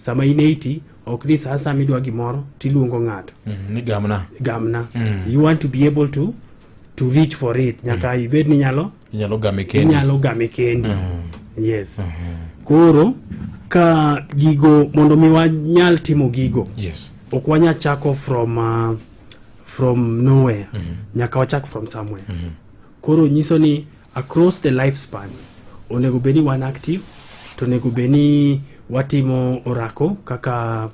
sama in eiti ok ni saa sama idwa gimoro tiluongo ng'ato mm, ni gamna gamna mm. you want to be able to to reach for it nyaka mm. ibed ni nyalo inyalo game kendi inyalo game kendi mm. yes mm -hmm. koro ka gigo mondo mi wanyal timo gigo yes ok wanyal chako from uh, from nowhere mm -hmm. nyaka wachak from somewhere mm -hmm. koro nyiso ni Across the lifespan, onego bed ni wan active to onego bed ni watimo orako kaka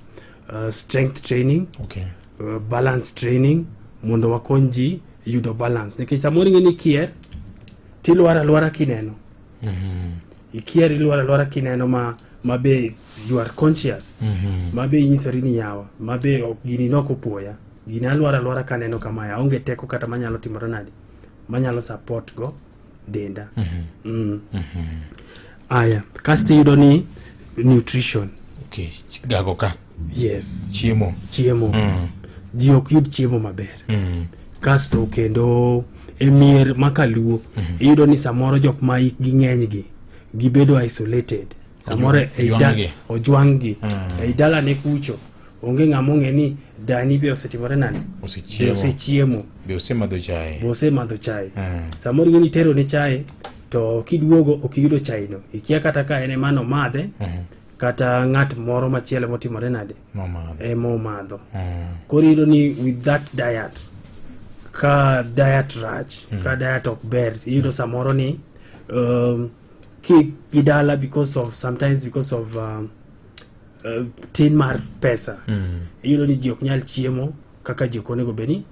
uh, strength training okay. uh, balance training mondo wakony ji yudo balance nikech samoro ing'e ni ikier tilwar alwara kineno mm -hmm. ikier ilwar alwara kineno ma ma be you are conscious mm -hmm. ma be inyisori ni yawa ma be gini nok opoya gini alwar alwara kaneno kama aonge teko kata manyalo timore nade manyalo support go denda mm -hmm. mm. mm -hmm. aya kasto iyudo ni nutrition okay. gago ka yes chiemo chiemo mm. ji ok yud chiemo maber mm. kasto kendo e mier makaluo mm -hmm. iyudo ni samoro jok ma ikgi ng'enygi gibedo isolated samoro e ojwang'gi mm. e dalane kucho Onge ng'ama ong'e ni dani be osetimore nade? Be osechiemo? Be osemadho chae? Be osemadho chae? Eh. Samoro ing'e ni itero ne chae to kiduogo ok iyudo chaeno. Ikia kata ka en ema nomadhe eh. kata ng'at moro machielo motimore nade? Ema omadho. Eh. Koro iyudo ni with that diet ka diet rach, hmm. ka diet ok ber, iyudo samoro ni um, keep gidala because of sometimes because of um, uh, tin mar pesa mm. iyudo ni ji ok nyal chiemo kaka ji ok onego bed ni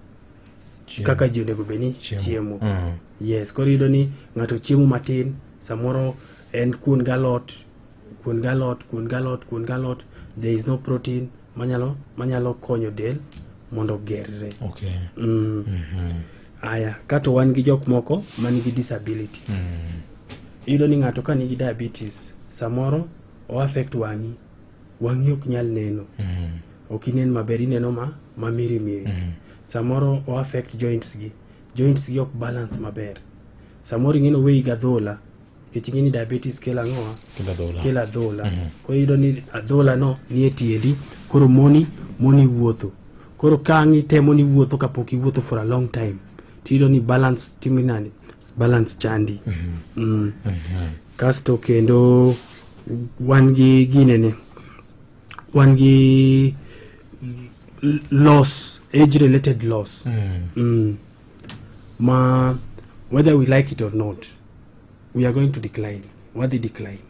kaka ji onego bed ni chiemo mm. yes koro iyudo ni ng'ato chiemo matin samoro en kuon galot kuon galot kuon galot kuon galot there is no protein manyalo manyalo konyo del mondo ogerre okay. mm. mm -hmm. aya kato wan gi jok moko manigi disability mm. iyudo ni ng'ato ka nigi diabetes samoro o affect wang'i wang'i ok nyal neno mm. ok inen maber ineno ma ma miri miri mm. samoro o affect joints gi joints gi ok balance maber samoro ing'eno weyi gadhola nikech ing'eni diabetes kelo ang'owa kelo adhola mm-hmm. koro iyudo ni adhola no nie tiendi koro moni moni wuotho koro ka ang' itemo ni wuotho kapok iwuotho for a long time tiyudo ni balance timo nani balance chandi mm-hmm. mm. Mm-hmm. kasto kendo wan gi ginene wan gi loss age related loss mm. Mm. ma whether we like it or not we are going to decline wadhi decline